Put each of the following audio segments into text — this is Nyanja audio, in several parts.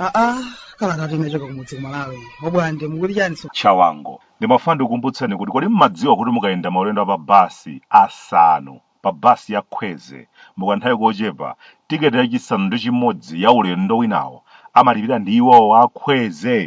aa kalata imachoka kumudzi kumalawi abwande mukuti chani so chawango ndimafuna ndikukumbutseni kuti kodi mmadziwa kuti mukayenda maulendo a pa basi asanu pa bus ya Khweze mukanthawi kochepa, ticket yachisanu ndi chimodzi ya ulendo winawo amalipira ndi iwowo a Khweze!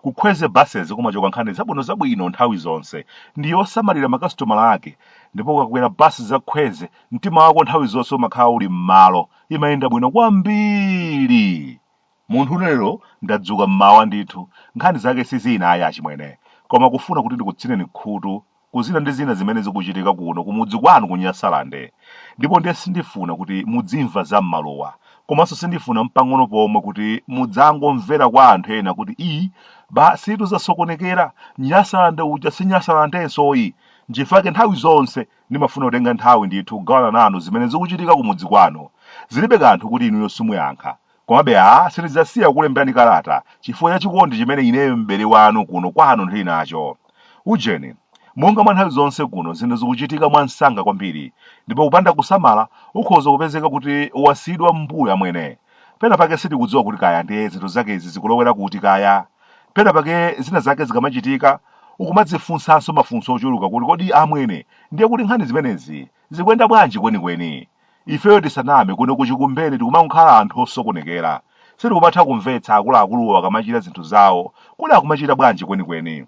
Ku Khweze Buses kumachoka nkhani zabwinozabwino nthawi zonse, ndi yosamalira makasitomala ake, ndipo ukakwera bus za Khweze mtima wako nthawi zonse umakhala uli m'malo, imayenda bwino kwambiri! Munthune lero ndadzuka m'mawa ndithu, nkhani zake si zina ayi achimwene, koma kufuna kuti ndikutsineni khutu pa zina ndi zina zimene zikuchitika kuno kumudzi kwanu ku Nyasalande, ndipo ndiye sindifuna kuti mudzimva za m'maluwa, komanso sindifuna mpang'ono pomwe kuti mudzangomvera kwa anthu ena kuti ii basitu zasokonekera, Nyasalande uja si Nyasalandenso ayi, nchifake nthawi zonse ndimafuna kutenga nthawi ndithu kugawana nanu zimene zikuchitika kumudzi kwanu, zilibe kanthu kuti inuyo simuyankha, Komabe a sindidzasiya kukulemberani kalata chifukwa cha chikondi chimene ineyo m'bale wanu kuno kwanu ndili nacho. Ujeni, monga mwa nthawi zonse kuno zinthu zikuchitika mwa msanga kwambiri, ndipo kupanda kusamala ukhoza kupezeka kuti wasiyidwa m'mbuyo amwene. Pena pake sitikudziwa kuti kaya ndiye zinthu zake izi zikulowera kuti kaya. Pena pake zina zake zikamachitika ukumadzifunsanso mafunso ochuluka kuti kodi amwene ndiye kuti nkhani zimenezi zikuyenda bwanji kwenikweni? Ifeyo tisaname kuno ku Chikumbeni tikumakhala anthu osokonekera. Sitikumatha kumvetsa akuluakuluwo akamachita zinthu zawo kuti akumachita bwanji kwenikweni.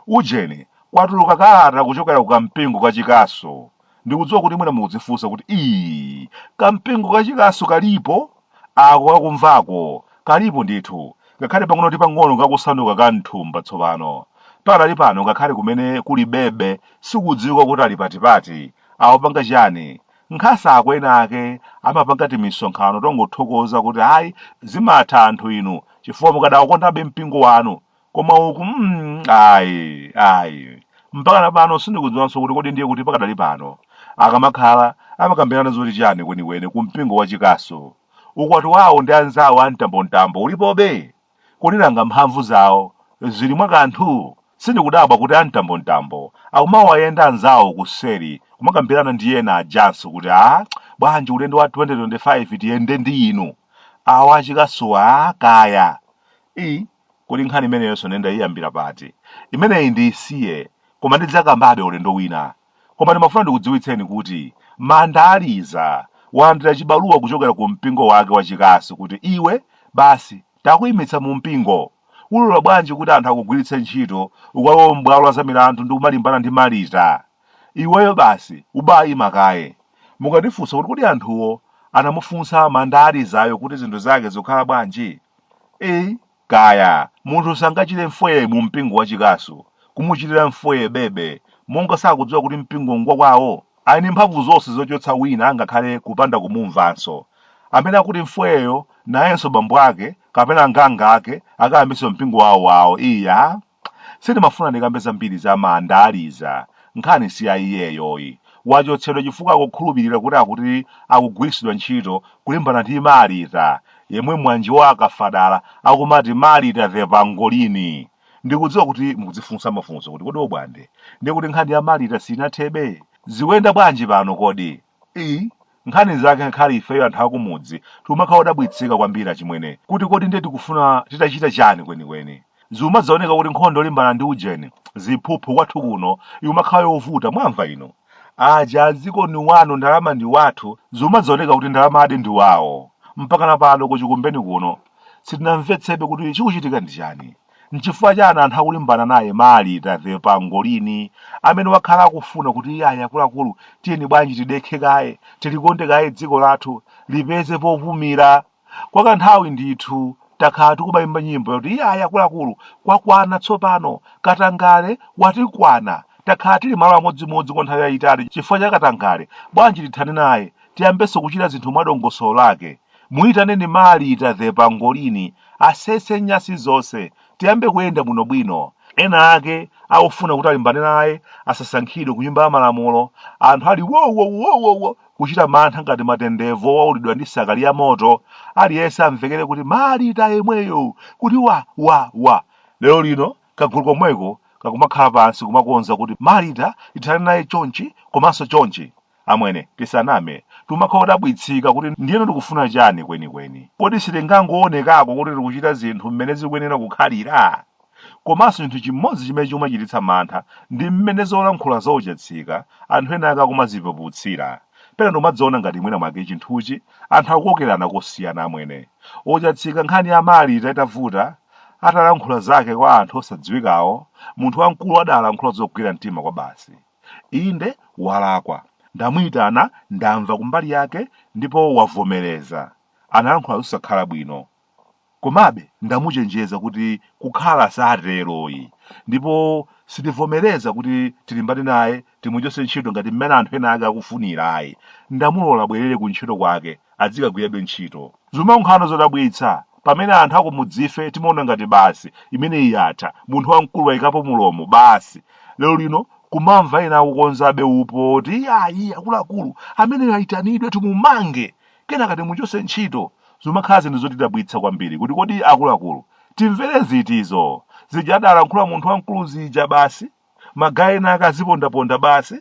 Ujeni, kwatuluka kalata kuchokera ku kampingo ka Chikasu. Ndikudziwa kuti mwina mukudzifunsa kuti ii, kampingo ka Chikasu kalipo? Ako kakumvako, kalipo ndithu, ngakhale pang'ono ndi pang'ono kakusanduka ka m'thumba tsopano. Pakadali pano ngakhale kumene kuli Bebe sikudziwika kuti ali patipati. Akupanga chiyani? Nkhasako ena ake amapanga timisonkhano tongothokoza kuti ayi zimatha anthu inu chifukwa mukadaukondabe mpingo wanu koma uku mm, ayi ayi mpaka na pano sindikudziwanso kuti kodi ndiye kuti pakadali pano akamakhala amakambirana zoti chani kwenikweni ku mpingo wa chikasu ukwati wawo ndi anzawo a mtambontambo ulipobe Kodi nanga mphamvu zawo zili mwa kanthu? Sindikudabwa kuti a mtambontambo akumawayenda anzawo kuseri kumakambirana ndi ena ajanso kuti aah bwanji ulendo wa 2025 tiyende ndi inu, awa achikasu-wa kaya. ii kodi nkhani imeneyonso nde ndaiyambira pati? Imeneyi ndiisiye koma ndidzakambabe ulendo wina. Koma ndimafuna ndikudziwitseni kuti Mandaliza walandira chibaluwa kuchokera ku mpingo wake wachikasu kuti iwe basi takuimitsa mu mpingo. Ulola bwanji kuti anthu akugwiritse ntchito ukalowe m'bwalo la zamilandu ndi kumalimbana ndi Marita? Iweyo basi ubaima kaye. Mukatifunsa kuti kodi anthuwo anamufunsa Mandalizayo kuti zinthu zake zikukhala bwanji? Ii. Kaya, munthu sangachite mfwee mu mpingo wa chikasu, kumuchitira mfwee bebe, monga sakudziwa kuti mpingo ngwa kwawo? Ali ndi mphamvu zonse zochotsa wina angakhale kupanda kumumvanso. Amene akuti mfweeyo, nayenso bambo ake, kapena nganga ake, akayambitse mpingo wawo wawo, iyaa! Sindimafuna ndikambe zambiri za Mandaliza, nkhani si ya iyeyoyi. Wachotsedwa chifukwa akukhulupirira kuti akuti akugwiritsidwa ntchito kulimbana ndi Marita, yemwe mwanji wa akafadala akumati Marita the Pangolini! Ndikudziwa kuti mukudzifunsa mafunso kuti kodi Obwande, ndiye kuti nkhani ya Marita sinathebe? Zikuyenda bwanji pano kodi? ii nkhani zake ngakhale ifeyo anthu akumudzi tikumakhala odabwitsika kwambiri achimwene kuti kodi ndiye tikufuna titachita chani kwenikweni ziumadzaoneka kuti nkhondo yolimbana ndi ujeni ziphuphu kwathu kuno imakhala yovuta mwamva inu aja adziko ni wanu ndalama ndi wathu ziumadzaoneka kuti ndalamadi ndi wawo mpakana pano kuchikumbeni kuno sitinamvetsebe kuti chikuchitika ndi chani N'chifukwa chani anthu akulimbana naye Marita the pangolini amene wakhala akufuna kuti iyayi akuluakulu tiyeni bwanji tidekhe kaye, tilikonde kaye dziko lathu, lipeze popumira. Kwa kanthawi ndithu takhala tikumaimba nyimbo yoti iyayi akuluakulu kwakwana tsopano, katangale watikwana, takhala tili malo amodzimodzi kwa nthawi yaitali chifukwa cha katangale, bwanji tithane naye, tiyambenso kuchita zinthu mwadongosolo lake. Muitaneni Marita the pangolini asese nyasi zonse tiyambe kuyenda bwino bwino, ena ake akufuna kuti alimbane naye asasankhidwe kunyumba ya malamulo, anthu ali wowowowowo kuchita mantha ngati matendevu owaulidwa ndi sakali ya moto, aliyense amvekere kuti Marita yemweyo kuti wa! wa! wa! Lero lino kagulu komweko kakumakhala pansi kumakonza kuti Marita tithane naye chonchi komanso chonchi. Amwene, tisaname, timakhala odabwitsika kuti ndiyeno tikufuna chani kwenikweni. Kodi sitingangoonekako kuti tikuchita zinthu mmene zikuyenera kukhalira? Komanso chinthu chimodzi chimene chikumachititsa mantha ndi mmene zolankhula za Ochatsika anthu ena ake akumazipeputsira. Pena ndimadziona ngati mwina mwake chinthuchi anthu akukokerana kosiyana. Amwene, Ochatsika nkhani ya Marita itavuta, atalankhula zake kwa anthu osadziwikawo, munthu wamkulu adalankhula zogwira mtima kwabasi. Inde, walakwa. Ndamuitana, ndamva kumbali yake, ndipo wavomereza. Analankhula zosakhala bwino. Komabe, ndamuchenjeza kuti kukhala satero ayi. Ndipo sitivomereza kuti tilimbane naye, timuchotse ntchito ngati mmene anthu ena ake akufunira ayi. Ndamulola abwerere kuntchito kwake, adzikagwirabe ntchito. Zumaonekano zodabwitsa, pamene anthu akumudzife timaona ngati basi, imeneyi yatha, munthu wamkulu wayikapo mulomo, basi. Lero lino kumamva ena akukonzabe upo woti iyayi akuluakulu, ameneyo ayitanidwe timumange, kenaka timuchotse ntchito. Zumakhala zinthu zotidabwitsa kwambiri kuti kodi akuluakulu timvere zitizo? Zija adalankhula munthu wamkulu zija basi? Ma guy ena ake azipondaponda basi.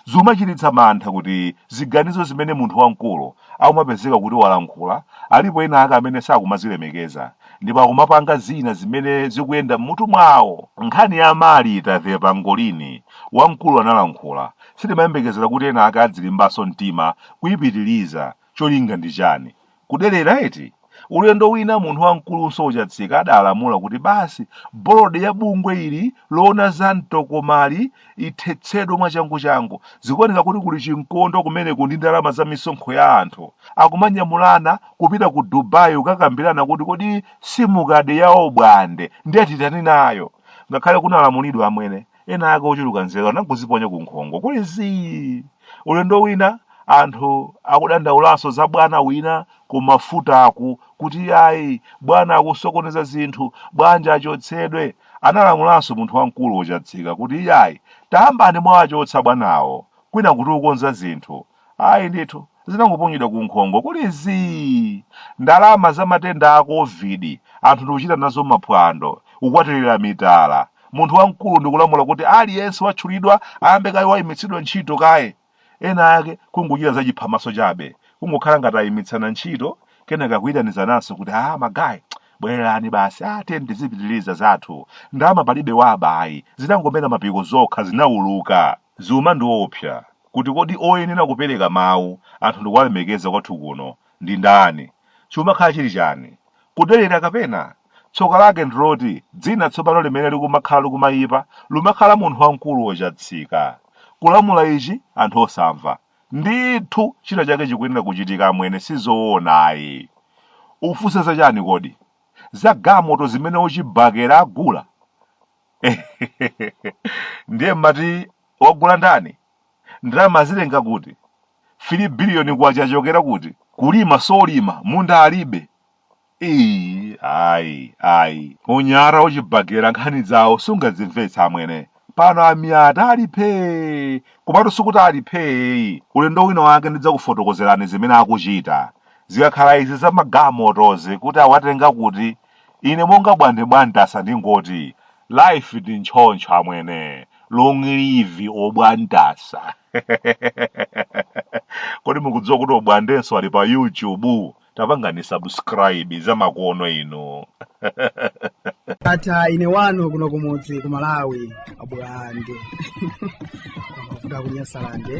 Zimachititsa mantha kuti ziganizo zimene munthu wamkulu akumapezeka kuti walankhula alipo ena ake amene sakumazilemekeza ndipo akumapanga zina zimene zikuyenda m'mutu mwawo. Nkhani ya Marita the pangolini wamkulu analankhula sitimayembekezera kuti ena ake adzilimbanso mtima kuipitiliza. Cholinga ndi chani? Kudelera eti? Ulendo wina munthu wamkulunso ochatsika adalamula kuti basi bolodi ya bungwe ili loona za mtokomali ithetsedwe mwachanguchangu. Zikuoneka kuti kuli chinkondo kumeneku ndi ndalama za misonkho ya anthu. Akumanyamulana kupita ku Dubai kukakambirana kuti kodi simukadi ya obwande ndiye titani nayo. Ngakhale kunalamulidwa amwene, Ena ake ochuluka nzeru anangoziponya ku nkhongo kuli zii. Ulendo wina anthu akudandaulanso za bwana wina ku mafutaku kuti iyayi bwana akusokoneza zinthu, bwanji achotsedwe. Analamulanso munthu wamkulu wochatsika kuti iyayi tayambani mwawachotsa bwanawo kwinaku tikukonza zinthu. Ayi ndithu, zinangoponyedwa ku nkhongo kuli zii! Ndalama za matenda a Covid anthu ndikuchita nazo maphwando, kukwatirira mitala. Munthu wamkulu ndikulamula kuti aliyense watchulidwa ayambe kaye waimitsidwa ntchito kaye. Ena ake kungochita zachiphamaso chabe, kungokhala ngati ayimitsana ntchito kenaka kuitanizananso kuti haa ma guy, bwererani basi haa tiyeni tizipitiliza zathu, ndalama palibe waba ayi, zinangomera mapiko zokha, zinauluka. Zumandiopsa kuti kodi oyenera kupereka mawu anthu ndikuwalemekeza kwathu kuno ndi ndani? Chikumakhala chili chani? Kudelera kapena? Tsoka lake ndiloti dzina tsopano limene likumakhala likumayipa lumakhala munthu wamkulu ochatsika. Kulamula ichi anthu osamva. Ndithu china chake chikuyenera kuchitika amwene sizoona ayi. Ukufunsa za chani kodi? Za gamoto zimene ochibakera agula? ndiye mumati wagula ndani ndalama azitenga kuti 3 biliyoni kwacha achokera kuti kulima solima munda alibe Ii, ayi ayi unyata wa Chibagera nkhani zawo sungazimvetsa amwene pano a Mia'ta ali phee komatu sikuti ali phee ulendo wina wake ndidzakufotokozerani zimene akuchita zikakhala izi za magamotozi kuti awatenga kuti Ine monga bwande bwamtasa ndingoti life ndi ntchontcho amwene long live obwantasa kodi mukudziwa kuti obwandenso ali pa youtube tapangani subscribe zamakono inu ndatha ine wanu kuno kumudzi ku malawi abulande kuvuga kunyasalande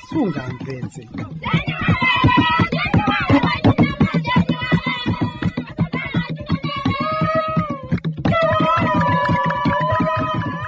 sungamvetse